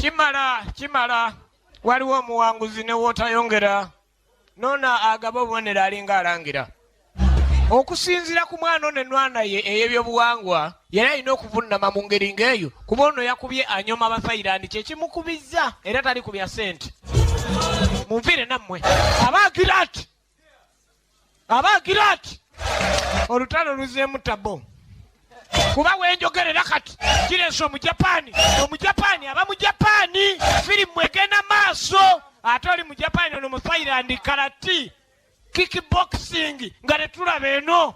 kimala kimala waliwo omuwanguzi ne wootayongera noona agaba obubonero alinga alangira okusinzira ku mwana ono enwana ye ey'ebyobuwangwa yali alina okuvunnama mu ngeri ng'eyo kuba ono yakubye anyoma bafairandi kyekimukubizza era tali ku bya sente munviire nammwe abagirati aba agira ati olutalo luzeemu tabo kuba wenjogerera kati kireesa omujapaani omujapaani aba mujapaani firimu egenda maaso ate oli mujapaani ono muthailand karati kickboxing nga tetulaba eno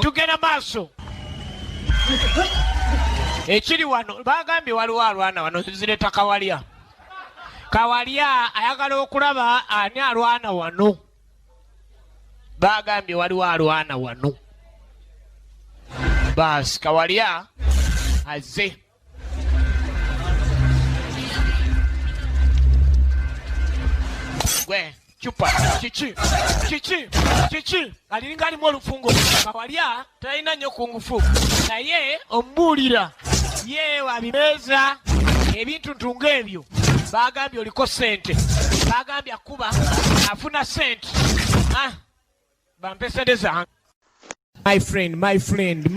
tugenda maaso ekiri wano bagambye waliwo alwana wano zireta kawalya kawalya ayagala okulaba ani alwana wano bagambye waliwo alwana wano baasi kawalya azze gwe cupa kiki kiki kiki aliringa alimu olufungo kawalya talina nnyo ku ngufu naye omubuulira ye wabimeeza ebintu ntunga ebyo bagambye oliko sente bagambye akuba afuna sente ah, bampe sente zange my friend my friend